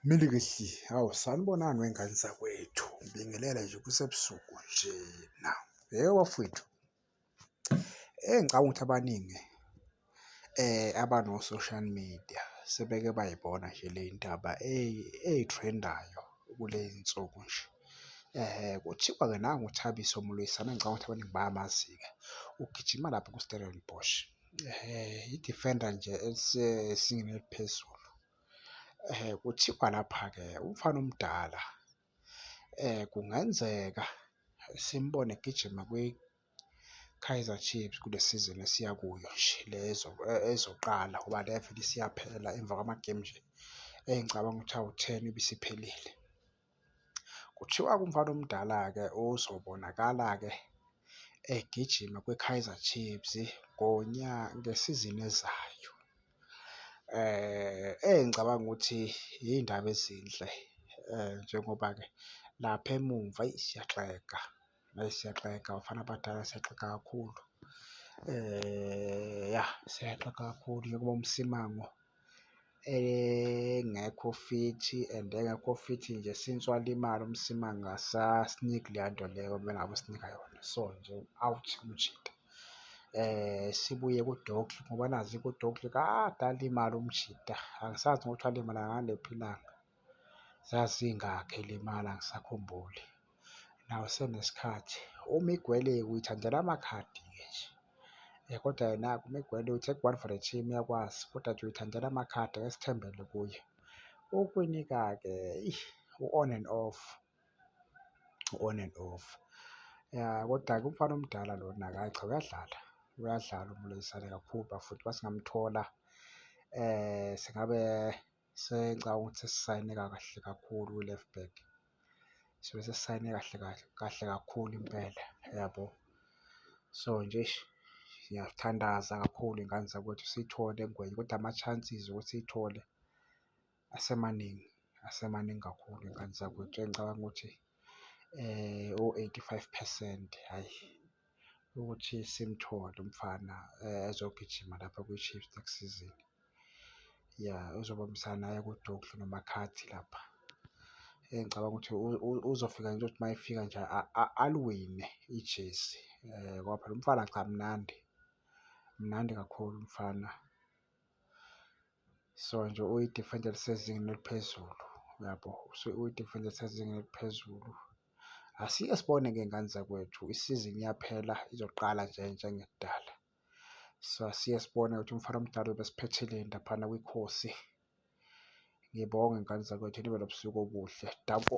Milikihli, hawu sanibonani wey'ngane zakwethu, ngibingelele nje kusebusuku nje na. Yebo bafwethu, eyi ngicabanga ukuthi abaningi abano-social media sebeke bayibona nje le ndaba ey'threndayo kuley'nsuku nje. Kuthiwa-ke nangu uThabiso Mloyisana ngicabanga ukuthi abaningi bayamazi-ke, ugijima lapha ku-Stellenbosch, i-defender nje elisezingeni eliphezulu. Kuthiwa lapha-ke umfana omdala kungenzeka simbone egijima kwiKaizer Chiefs kule sizini esiya kuyo nje le ezoqala ngoba le vele isiyaphela emva kwamagemu nje engicabanga ukuthi awu-ten ibisiphelile. Kuthiwa kumfana omdala-ke ozobonakala-ke egijima kwiKaizer Chiefs ngesizini ezayo. Engicabanga ukuthi iy'ndaba ezinhle njengoba-ke lapha emumva eyi, siyaxega. Eyi siyaxega bafana abadala siyaxega kakhulu. Ya siyaxega kakhulu njengoba uMsimango engekho fithi and engekho fithi nje since walimala uMsimango akasasiniki leya nto leyo okumele ngabe usinika yona. So nje u-out umjita. Sibuye kuDogly ngoba nazi kuDogly kade alimala umjita, angisazi nokuthi walimala ngalephi ilanga. zazingakhi limala angisakhumbuli nawe senesikhathi umigwele uyithandela amakhadi ke nje eh, kodwa yena umigwele uthi one for the team yakwazi kodwa nje uyithandela amakhadi esithembele kuye ukwinika ke u-on and off u-on and off ya kodwa-ke umfana omdala lona kayi cha uyadlala uyadlala uMulisane kakhulu bafuthi basingamthola eh singabe Sengicabanga ukuthi sisayine kahle kakhulu kwi-left back. Sibe sesisayine kahle kahle kahle kakhulu impela yabo. So nje eish ngiyathandaza kakhulu ngane zakwethu siyithole eNgwenya kodwa ama-chances okuthi siyithole asemaningi, asemaningi kakhulu ngane zakwethu. Engicabanga ukuthi o-eighty-five percent hhayi. ukuthi simthole umfana eh, ezogijima lapha kwi-Chiefs next season. Ya uzobambisana aye kuDuke noMakhathi lapha. Eh, ngicabanga ukuthi uzofika nje ukuthi mayefika nje aliwine ijezi eh, ngoba phela umfana cha mnandi mnandi kakhulu umfana so nje uyi-defender elisezingeni eliphezulu uyabo uyi-defender elisezingeni eliphezulu Asike sibone ngey'ngane zakwethu isizini iyaphela izoqala nje njengekudala. So asike sibone ukuthi umfana omdala ubesiphetheleni laphana kwikhosi. Ngibonge ngane zakwethu nibe nobusuku obuhle. Danko.